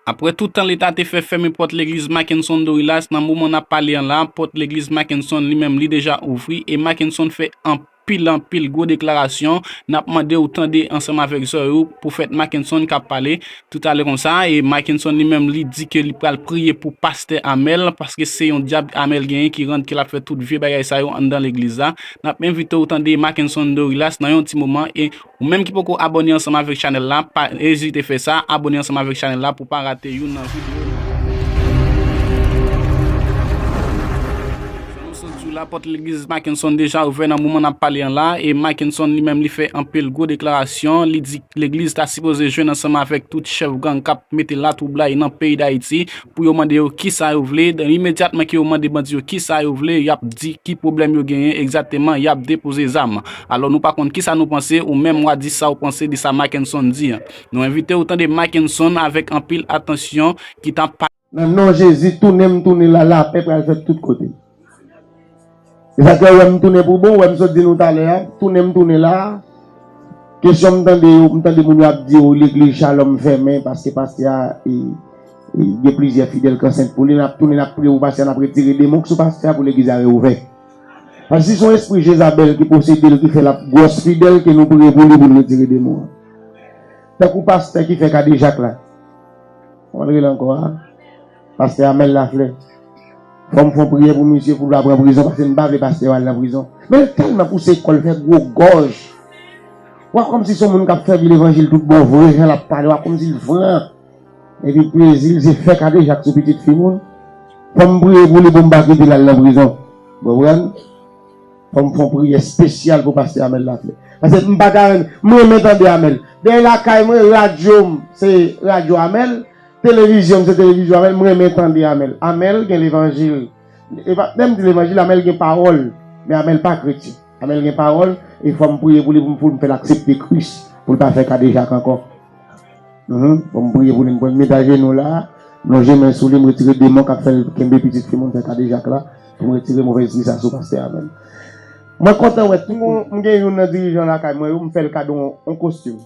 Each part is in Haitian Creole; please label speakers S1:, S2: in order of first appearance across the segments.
S1: Aprè tout tan leta te fè fèmen pòt legliz Mackenson Dorilas nan moman nap pale an la pòt legliz Mackenson li menm li deja ouvri e Mackenson fè anpil anpil gwo deklarasyon nap mande ou tande ansanm avèk zòy ou pwofèt Mackenson kap pale toutalè konsa e Mackenson li menm li di ke li pral priye pou pastè Amel paske se yon dyab Amel genyen ki rann ke lap fè tout vye bagay sa yo anndan legliz la nap envite ou tande Mackenson Dorilas nan yon ti moman e Ou menm ki poko abone ansanm avek chanel la pa ezite fè sa abone ansanm avek chanel la pou pa rate youn nan video nou pral Fè nou san diw la pòt legliz Mackenson deja ouvè nan moman nap pale an la e Mackenson li menm li fè anpil gwo deklarasyon li di legliz ta sipoze jwenn ansanm avek tout chèf gang kap mete la twoublay nan peyi dayiti pou yo mande yo ki sa yo vle, dan imedyatman ke yo mande bandi yo ki sa yo vle, y ap di ki pwoblèm yo genyen egzateman, y ap depoze zam. Alò nou pa konn ki sa nou panse, ou menm wa di sa ou panse de sa Mackenson di an. Nou envite ou tande Mackenson avèk anpil atansyon ki ta. Nan non Jezi
S2: tounen m tounen la lapè pral fèt tout kote. E sa k fè ou wè m tounen pou bon, ou wè m sot di nou talè a, tounen m tounen la a? Kesyon m tande yo, m tande moun yo ap di yo legliz Shalom fèmen paske pastè a gen plizyè fidèl k ansent pou li, n ap tounen n ap priye pou pastè a, n ap retire demon k sou pastè a pou legliz a reouvè. Paske si se yon espri Jezabèl ki posede l ki fè l ap gwòs fidèl ke nou priye pou li pou l retire demon an. Tankou pastè ki fè kadejak la. Kòman l rele ankò a? Pastè Amel Lafleur, fò m fè yon priyè pou misye pou l pa pran prizon paske m pa vle pastè yo al nan prizon. Men l tèlman pouse kò l fè gwo gòj. Ou a kòmsi se yon moun k ap sèvi levanjil tout bon vre jan l ap pale ou a kòmsi l fran. Epi plezi l se fè kadejak sou pitit fi moun. Fò m priye pou li pou m pa kite l al nan prizon. Ou konprann? Fò m fè yon priyè spesyal pou pastè Amel Lafleur. Paske m pa ta renmen, m renmen tande Amel. Dèyè lakay mwen radyo m se radyo Amel. Televizyon m se televizyon amel m renmen tande amel amel gen levanjil e pa menm di levanjil amel gen pawòl men amel pa kretyen amel gen pawòl e fòm priye pou li pou m fèl aksepte kris pou l pa fè kadejak ankò humm fòm priye pou li m pral met ajenou la lonje men sou li m retire demon kap fèl kenbe pitit fi moun fè kadejak la pou m retire movè espri sa sou pastè amel mwen kontan wè tout moun m gen youn nan dirijan lakay mwen yo m fèl kado yon kostim.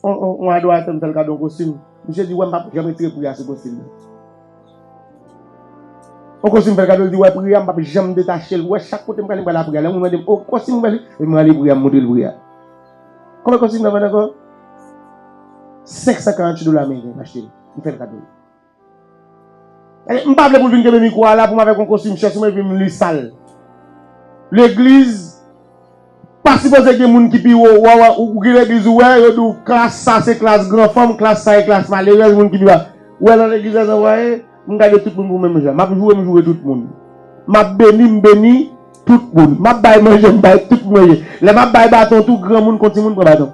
S2: On adoratè m fè l kado yon kostim, misye di wè m pa p janm retire pri a sou kostim nan. On kostim m fè l kado, li di wè pri a m pa p janm detache l, wè chak kote m prale m prale a pri a. Lè yon moun mande m, oh kostim m bèl wi, epi m rale pri a m montre l pri a. Konbyen kostim nan vann ankò? 548 dola ameriken m achte l, m fè l kado. Eh, m pa vle pou l vin kenbe mikwo a la pou m avèk yon kostim chè sou mwen epi m li sal. Legliz pa sipoze gen moun ki pi wo. Wa wè, ou gen legliz ou wè, yo di w klas sa se klas gran fanm, klas sa e klas malerèz, moun ki pi ba. Ou wè nan legliz la jan wa ye? M gade tout moun pou menm jan. M ap joure m joure tout moun. M ap beni m beni tout moun. M ap bay manje m bay tout moun manje. Lè m ap bay baton tou, granmoun kon timoun pran baton.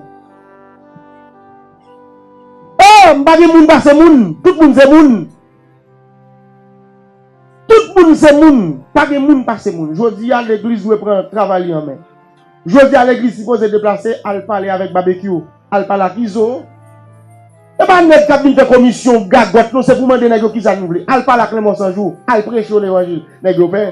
S2: Oh m pa gen moun pase moun tout moun se moun tout moun se moun pa gen moun pase moun jodi a legliz dwe pran travay li an men jodi a legliz sipoze deplase al pale avèk babekyou al pale ak izo e pa nèg kap vin fè komisyon gagòt non se pou mande nèg yo kisa nou vle al pale ak lanmò sanjou al preche yo levanjil nèg yo pè.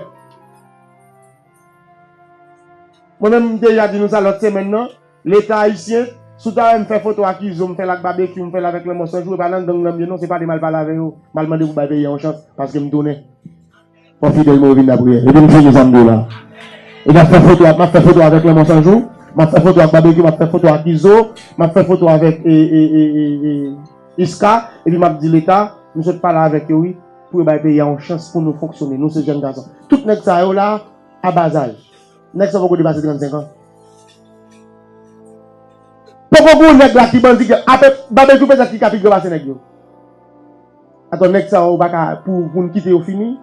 S2: Mwen menm m deja di nou sa lòt semèn nan, leta ayisyen, si w ta wè m fè foto ak izo, m fè l ak babekyou, m fè l avèk lanmò san jou, e pa nan gang lan m ye non, se pale m al pale avè yo, m al mande pou bay peyi a yon chans, paske m tounen. Fò fidèl mwen yo vin lapriyè. Epi m fini sa m di w la. E m ap fè foto ak, m ap fè foto avèk lanmò san jou, m ap fè foto ak babekyou, m ap fè foto ak izo, m ap fè foto avèk e, e, e, e, e, Iska, epi m ap di leta, m sot pale avèk yo wi, Pou yo bay peyi a yon chans pou nou fonksyone. Nou se jèn gason. Tout nèg sa yo la a ba zaj. Nèg sa poko depase 35 an. Poko gou nèg la ki bandi ki ape babejou petèt ki ka pi gran pase nèg yo. Atò nèg sa yo pa ka pou pou nou kite yo fini.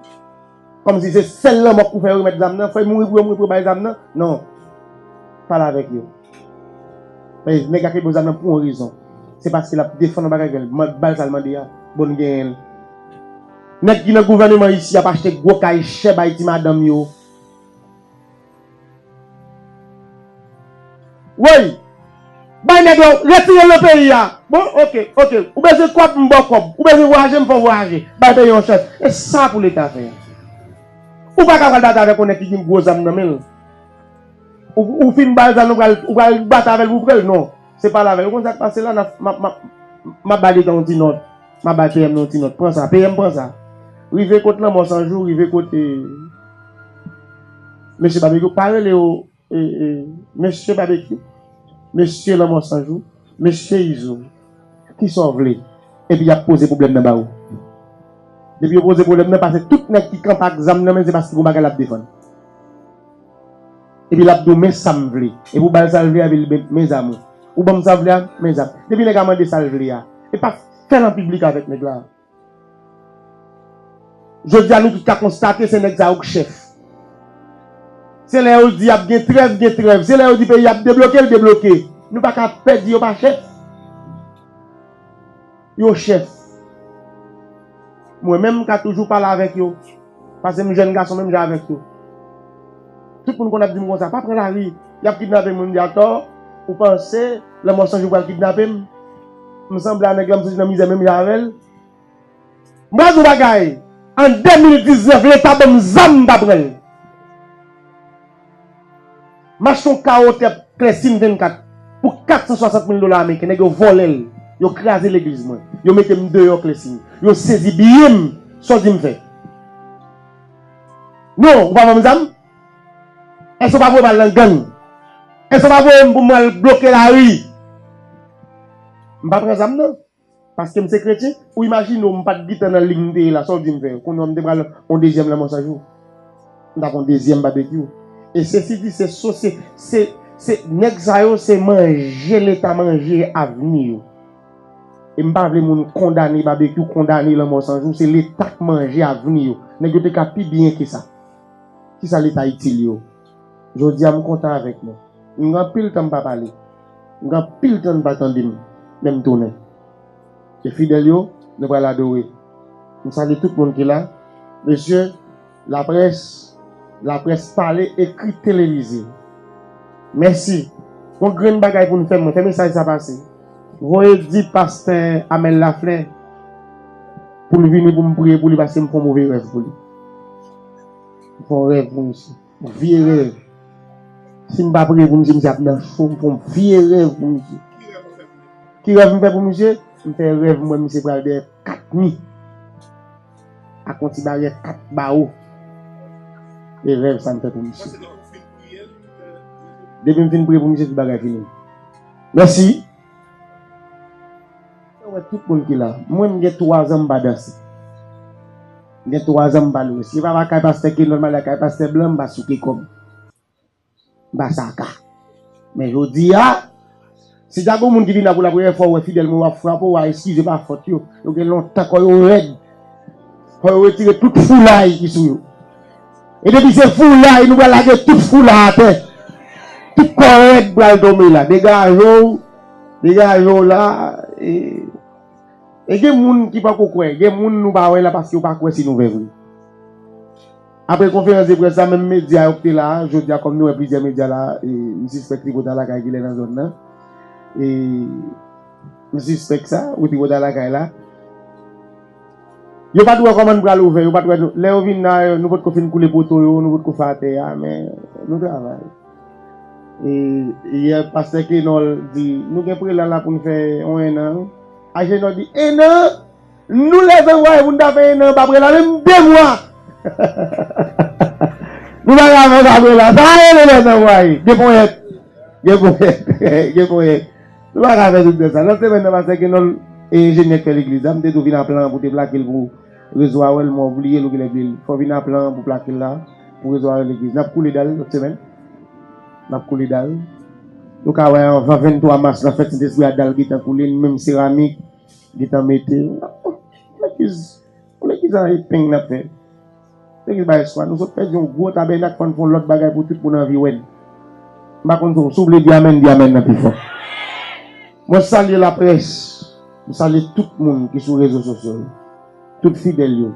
S2: Kòm si se sèl lanmò k pou fè yo remèt zam nan. Fò yo mouri pou yo mouri pou yo bay zam nan. Non. Pale avèk yo. Men nèg la ki bon zam nan pou yon rezon se paske lap defann yon bagay vre l bal sal mande a bon n genyen l. Nèg ki nan gouvèneman isi ap achte gwo kay chè bay ti madanm yo. Woy! Bay nèg la w, retire l nan peyi a. Bon ok, ok, ou bezwen kòb m ba w kòb, ou bezwen vwayaje m fè w vwayaje, bay peyi a yon chans. E sa pou leta fè? Ou pa ka pral batay avèk yon nèg ki gen gwo zam nan men l. Ou fin bal zam ou pral ou pral bat avèl pou prel non se pale avèl ou konn sak pase la nap map map map ba detan yon ti nòt map bay PM nan yon ti nòt pran sa PM pran sa rive kot lanmò san jou rive kot e mesye babekyou pa rele yo e e mesye babekyou mesye lanmò san jou mesye izo. Kisa w vle? Epi y ap poze pwoblèm nan ba ou. Depi yo poze pwoblèm nan, pase tout nèg ki kanpe ak zam nan men, se paske gon bagay l ap defann. Epi l ap di w, men sa m vle. Epi w ba l sa l vle a, epi l di, mezamou, ou ban m sa w vle a? Mezam. Depi nèg a mande sa l vle a, epa fè l an piblik avèk nèg la. Jodi a nou tout ka konstate se nèg sa yo k chèf. Se lè yo di ap gen trèv gen trèv, se lè yo di peyi ap debloke l debloke. Nou pa ka pè di yo pa chèf. Yo chèf. Mwen menm m ka toujou pale avèk yo pase m jèn gason menm jan avèk yo. Tout moun konn ap di m konsa pa pran lari y ap kidnape moun m di atò ou panse lanmò sanjou pral kidnape m. M sanble a nèg lan m soti nan mizè menm jan avèl. M pral di w bagay, an 2019 leta banm zam m ta pranl. Mache yon kawo tè klèsin 24 pou 460 mil dola ameriken nèg yo vòlè l, yo kraze legliz mwen, yo mete m deyò klèsin, yo sezi biyem, sa w di m fè? Non ou pa banm zam? Èske w pa vle m al nan gang? Èske w pa voye m pou m al bloke lari? M pa pran zam non. Paske m se kretyen? Ou imajine w m pa t gentan nan lig m te ye la, sa w di m fè? Kounye w m te pral yon dezyèm lanmò san jou. M t ap yon dezyèm babekyou. E sesi di se so se, se, se, nèg sa yo se manje leta manje avni yo. E m pa vle moun kondane babekyou, kondane lanmò san jou. Se leta k manje avni yo. Nèg yo te ka pi byen ke sa. Kisa li ta itil yo? Jodi a m kontan avèk nou. M gen anpil tan m pa pale. M gen anpil tan nou pa tande m. Men m tounen. E fidèl yo, nou pral adore. M salye tout moun ki la. Mesye, laprès, laprès pale, ekri, televize. Mèsi. Yon grenn bagay pou nou fè. Mwen fè mesaj sa pase. Voye di pastè Amel Laflè pou l vini pou m priye pou li paske m fè yon move rèv pou li. Fon rèv pou misye. Yon vye rèv. Si m pa priye pou misye, misye ap nan cho. M fè yon vye rèv pou misye. Ki rèv m fè pou misye? M fè rèv m wè misye pral dèyè kat mi. Ak yon ti baryèt kat bawo. E rèv sa m fè pou misye. Depi m fin priye pou misye, tout bagay fini. Mèsi! Mwen wè tout moun ki la. Mwen m gen 3 zan m pa danse. M gen 3 zan m pa lwe. Si m pa va kay pastè Kenòl m ale kay pastè blan m pa souke kò m. M pa sa ka. Men jodi a, si ta gen yon moun ki vin la pou la premyè fwa ou wè fidèl mwen yo ap frape ou a eskize pa fòt yo. Yo gen lontan kò yo rèd. Fò yo retire tout foulay ki sou yo. E depi se foulay nou pral lage tout foula atè. Tout kò rèd pral tonbe la. Degaje w, degaje w la e E gen moun ki poko kwè, gen moun nou pa wè la paske yo pa kwè se nouvè vre. Aprè konferans de près la, menm medya yo ki te la, jodi a kòm nou wè plizyè medya la, e m sispèk Tripota lakay ki lè nan zòn nan, e m sispèk sa, ou Tripota lakay la. Yo pat wè kòman n pral ouvè, yo pat wè lè yo vin la nou potko fin koule poto yo, nou potko fè atè a men nou travay. E yè pastè Kenòl di nou gen prelan la pou n fè yon ennan wi. Ajenò di ennan? Nou lève vwaye pou n ta fè ennan anba prelan menm 2 mwa nou pa ka fè anba prelan sa rele lève vwaye. Gen ponyèt, gen ponyèt, gen ponyèt. Yo pa ka fè tout bèl sa. Nan semèn nan pastè Kenòl e enjenyè k fè legliz la, m te di w vin a plan an pou te plake l pou rezo a wè l men w bliye l ou genlè bliye l. Fò w vin a plan an pou plake l la pou rezo a wè legliz. N ap koule dal lòt semèn. N ap koule dal. Nou ka wè anvan 23 mas lan fèt Sentespri a dal gentan koule nou menm seramik gentan mete. N ap fè legliz. Koulè ki sa epeng n ap fè. Te gen bay espwa. Nou sot pèdi yon gwo tabènak fò n fè yon lòt bagay pou tout moun anvi wè n. M pa konn sa w, si w vle di amèn di amèn nan pi fò. Mwen salye laprès, m salye tout moun ki sou rezo sosyo yo, tout fidèl yo.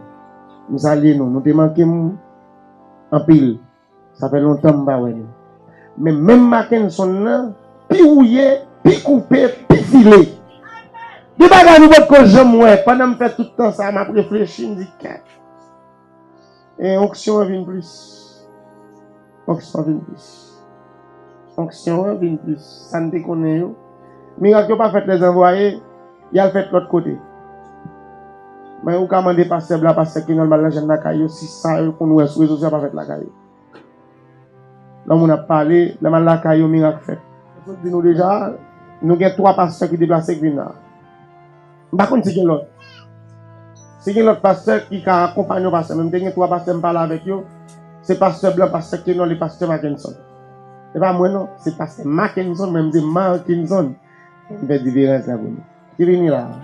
S2: M salye nou, nou te manke m anpil. Sa fè lontan m pa wè nou. Men menm Makenson nan pi wouye, pi koupe, pi file. Gen bagay nou potko janm wè. Pandan m fè tout tan sa a, m ap reflechi, m di kèt. E onksyon an vin plis. Onksyon an vin plis. Onksyon an vin plis sa n te konnen yo. Mirak yo pa fèt lè zanvwaye y al fèt lòt kote. Men ou ka mande pastè blan, pastè kinol mal nan jèn lakay yo si sa yo konn wè sou rezo sosyo a pa fèt lakay yo. Lè moun ap pale, lè m al lakay yo mirak fèt. Mwen sot di nou deja, nou gen twa pastè ki deplase k vin la. M pa konn si gen lòt. Si gen lòt pastè ki ka akonpanye yon pastè men m te gen 3 pastè m pale avèk yo, se pastè blan, pastè Kenòl e pastè Makenson. Se pa mwen non, se pastè Makenson mwen m se Markinson. M fè diferans la pou nou. Ki vini la a.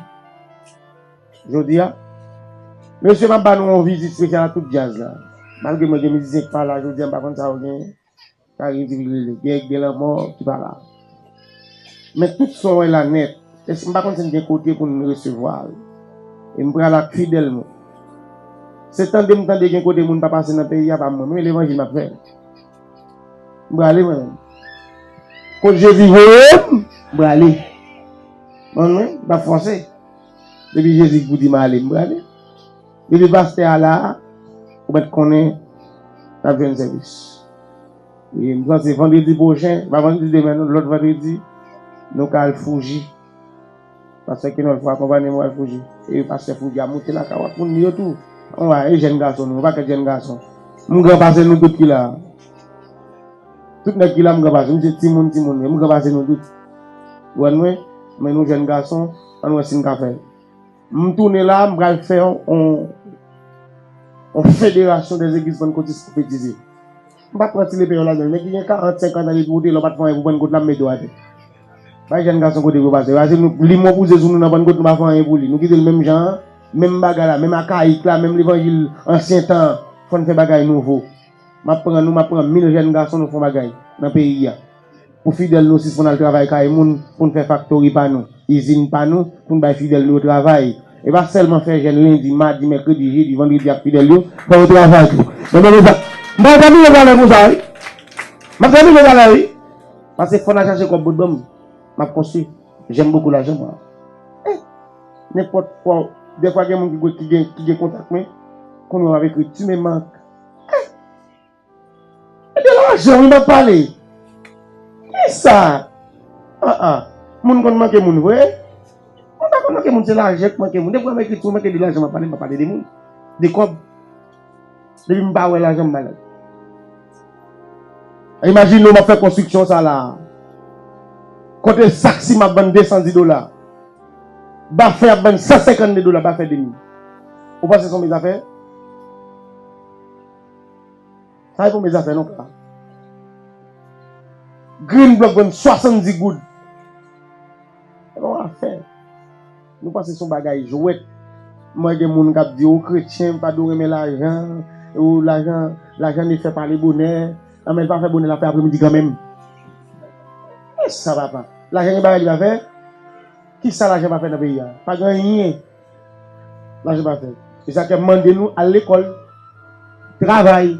S2: Jodi a, mesye m ap ba nou yon vizit spesyal a tout djaz la. Malgre mwen gen mizisyen ki pa la jodi a m pa konn sa yo genyen. Sa yo vin rele gè gè lanmò ki pa la. Men tout sa w wè la nèt, èske n pa konn si n gen kote pou n resevwa l? E m pral ak fidèl mwen. Se tande m tande gen kote moun pa pase nan peyi a pa mwen. Mwen levanjil m ap fè. M prale mwen menm. Kot Jezi voye m, m prale. Mwen menm, m pa fòse. Depi Jezi di m ale, m prale. Depi pastè a la ou mèt konnen nap jwenn sèvis. E m panse vandredi pwochen, pa vandredi demen non lòt vandredi nou ka al Fuji. Pastè Kenolfo akonpanye mwen al Fuji. E pastè Fuji a moute lakay ou ak moun li yo tou. An wa e jèn gason nou, yon pakèt jèn gason. M gran pase nou tout ki la. Tout nèg ki la m gran pase nou se timoun timoun yo. M gran pase nou tout. Ou wè mwen? Men nou jèn gason, ann wè si n ka fè l. M tounen la m pral fè on on federasyon dè zegliz pannkotis pwofetize. M pa pran ti lepeyon ladan l. Nèg ki gen 40, 50 an depi ou te la w pa t fè anyen pou pannkot la m mete w atè. Bay jèn gason kote pou yo pase. Pase nou li mo bouze sou nou nan pannkot nou pa fè anyen pou li. Nou kite l menm jan an, menm bagay la, menm akayik la, menm levanjil ansyen tan an. Fò n fè bagay nouvo. M ap pran nou, m ap pran mil jèn gason nou fè on bagay nan peyi a. pou fidèl nou sispann al travay kay moun pou n fè faktori pa nou, izin pa nou pou n bay fidèl nou yo travay. E pa sèlman fè jèn lendi, madi, mèkredi, jedi, vandredi ak fidèl yo, fè yo travay tou. Mwen pa bezwen mwen pa bezwen valè pou sa wi. Mwen pa bezwen valè wi. Pase fò n al chache kòb bòt ban m, m ap konstwi. J'aime beaucoup l'argent moi. E nenpòt fwa w dèfwa gen moun ki gen kontak mwen, konnen w ap ekri tu me manques. E! Ebyen lajan wi map pale. Kisa aa moun konn manke moun vre. Moun pa konn manke moun se lajan ki manke moun. Depi wèm ekri ti moun manke de lajan map pale mpa pale de moun. De kòb. Depi mpa wè lajan m malad. Imajine w map fè konstriksyon sa la. Kote sak siman ap vann 210 dola. Bafè ap vann 152 dola bafè demi. Ou panse son mezafè? Sa e premye zafè non pa. Green block vwenn 70 goud. E bon afè. Nou panse son bagay jwet. Mwen gen moun kap di ou kretyen pa dou renmen lajan. Ou lajan, lajan ne fè pale bonè. Nan men pa fè bonè la fè apre midi kanmenm. Esa papa. Lajan gen bagay li pa fè. Kisa lajan pa fè nan peyi a. Pa gen anyen. La je batay. E sa ke mande nou al lekol. Travay.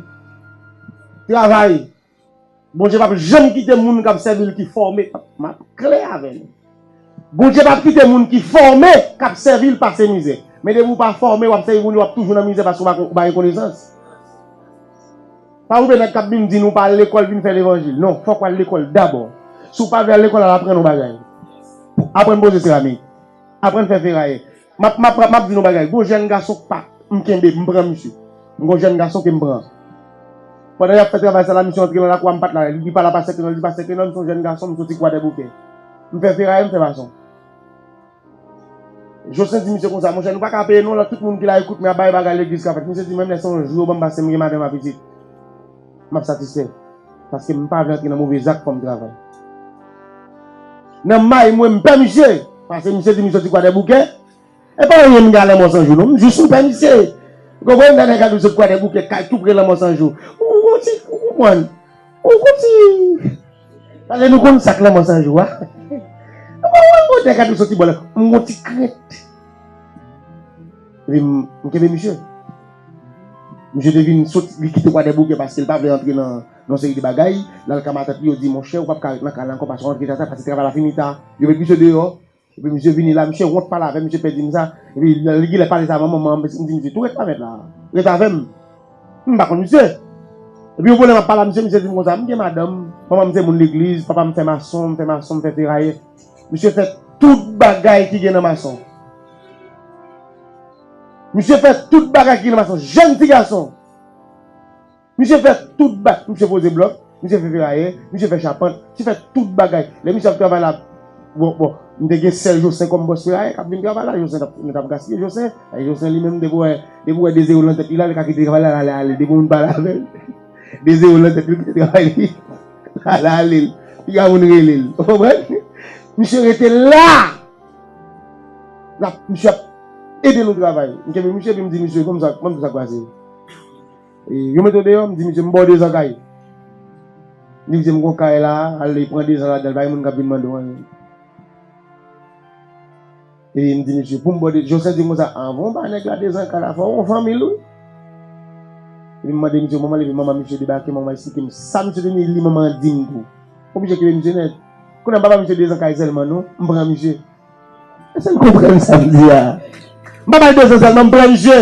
S2: Travay. Bondye pap janm kite moun kap sèvil ki fòme. Map klè avè nou. Bondye pap kite moun ki fòme kap sèvil pase mizè. Men depi ou pa fòme wap sèvi Bondye wap toujou nan mizè paske ou pa gen konesans. Pa oube nèg kap vin di nou pa al lekol vin fè levanjil. Non fok wal lekol dabò. Si ou pa vle al lekol al aprann yon bagay. Aprann poze seramik. Aprann fè ferayè. Map map map map di nou yon bagay. Gon jèn gason k pa m kenbe, m pran misye. M gon jèn gason ke m pran. Pandan yap fè travay sa la, misye antre lan lakou a m pat la. Li di pa la pa sèke nan, li di pa sèke nan, m son jèn gason, m soti kwadèboukè. M fè ferayè, m fè mason. Joslin di misye konsa, monchè nou pa ka peye non lan tout moun ki la ekout m ya bay bagay legliz ka fèt. Misye di menm lè se yon jou yo ban m pase m gen madanm a pitit. m ap satisfè paske m pa vle antre nan move zak fòm travay nan may mwen m pè misye pase misye di m soti kwadèboukè e pa anyen m gen a lanmò sanjou non m jis m pè misye ou konprann lè nèg la di w sot kwadèboukè kay tou pre lanmò sanjou ou konprann ou konprann ou konprann pase nou konn sak lanmò sanjou a ou konprann lè nèg la di w soti bò lè m gon ti krent epi m kenbe misye. Misye te vin soti, li kite Kwadèboukè paske li pa vle antre nan yon seri de bagay. L al ka matant li, yo di, Monchè, ou pap ka ret nan kay la ankò, pase w antre tata, pase travay la fini ta. Yo met misye deyò. Epi misye vini la, misye wont pale avè m, misye pè di m sa. Epi lè li genlè pale sa avè manman an, m di misye tou ret la mèt la, ret avè m. M pa konn misye. Epi yon bon lè m ap pale a misye, misye di m konsa, m gen madanm, manman m se moun legliz, papa m fè mason, m fè mason, m fè ferayè. Misye fè tout bagay ki gen nan mason. Misye fè tout bagay ki nan mas yon jèn ti gason. Misye fè tout ba, misye poze blòk, misye fè ferayè, misye fè chapant, misye fè tout bagay. Lè misye ap travay la, bon, bon, m te gen sè Josen kòm bòs ferayè k ap vin travay la, Josen t ap, nou t ap gaspiye Josen. E Josen li menm depi w wè, depi w wè de zewo lan tèt li la, li ka kite travay la, l ale ale depi w vin pale avè l. De zewo lan tèt li, l kite travay li, l ale ale l. Piga moun rele l. Ou konprann? Misye rete la! L ap touche, l ap ede nou travay. M kenbe misye epi m di misye, kòman sa k pase? Yo mete w deyò? M di misye, m ba w dezan kay. Li di m, gen yon kay la, al e pran dezan ladan l, pa gen moun k ap vin mande w anyen. Epi m di misye, pou m ba w dezan, Jocelin di m konsa, anvan w ba nèg la dezan kay la, fò w gen yon fanmi l wi. Epi m mande misye manman l, epi manman misye debake, manman l esplike m sa misye te li, li manman an di m tou. Ou oblije kite misye nèt. Kounye a m pa bay misye 2 zan kay sèlman non, m pran misye. Èske n konprann sa m di a? M pa bay 2 zan sèlman, m pran misye.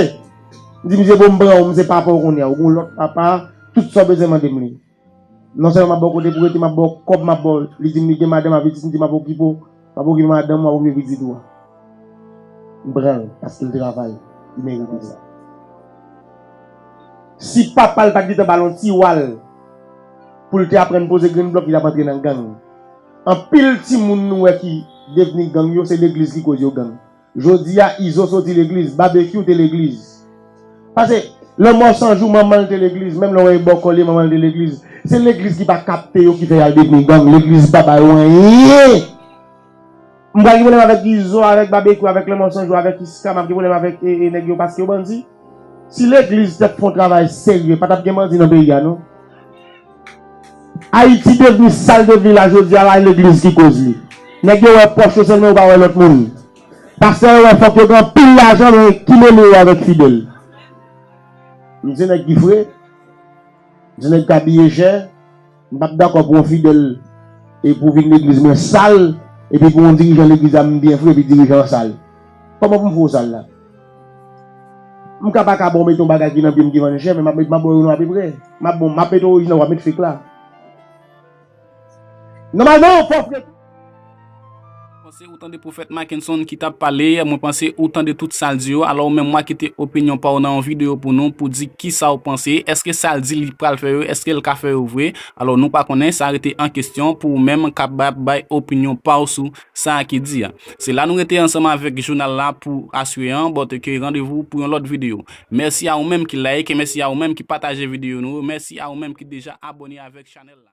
S2: M di misye bon m pran ou, m se papa w kounye a, ou gen yon lòt papa, tout sa w bezwen mande m li. Nonsèlman m ap ba w kote pou w rete, m ap ba w kòb, m ap ba w, li di m li gen madanm avè ti m di m ap okipe w. W ap okipe madanm w ap okipe pitit ou a. M pran l paske l travay, li merite sa. Si papa l pat gentan ba l yon ti wal pou l te aprann poze grenn blòk li tap antre nan gang. Anpil timoun nou wè ki devni gang yo se legliz ki koz yo gang. Jodia izo soti legliz babekyou te legliz pase lanmò sanjou manmanl te legliz menm lè wè e bòkò liye manmanl te legliz se legliz ki pa kapte yo ki fè yal devni gang legliz pa ba yo anyen m pral gen pwoblèm avèk izo avèk babekyou avèk lanmò sanjou avèk iska map gen pwoblèm avèk e e nèg yo paske yo bandi. Si legliz tap fon travay serye patap gen bandi nan peyi a non. Ayiti devni sal devni la jodi a la legliz ki koz li. Nèg yo wè pòch yo sèlman yo pa wè lòt moun. Pastè yo wè fòk yo gen anpil lajan men ki mele yo avèk fidèl. M di nèg ki fre, m di nèg k abiye chè. M pap dakò pou yon fidèl e pou vin legliz mwen sal epi pou yon dirijan legliz la m byen fre epi dirijan an sal. Kòman pou m fè w sal la? M ka pa ka ba w mete yon bagay ki nan pye m ki vann chè men m ap mete m ap ba w yon apeprè. M ap bon m ap mete orijinal w ap mete fake la. Nòmalman yon fo frè ki.
S1: Panse ou tande pwofèt Mackenson ki tap pale, mwen panse ou tande tout sal di yo, alò ou menm wa kite opinyon paw nan yon video pou nou pou di kisaw panse, eske sal di li pral fè yo eskel ka fè yo vre, alò nou pa konnen sa rete an kesyon pou ou menm kapab bay opinyon paw sou sa ki di a. Se la nou rete ansanm avèk jounal la pou aswe an, bòt ke randevou pou yon lòt video. Mèsi a ou menm ki like, mèsi a ou menm ki pataje video nou, mèsi a ou menm ki deja abòne avèk chanèl la.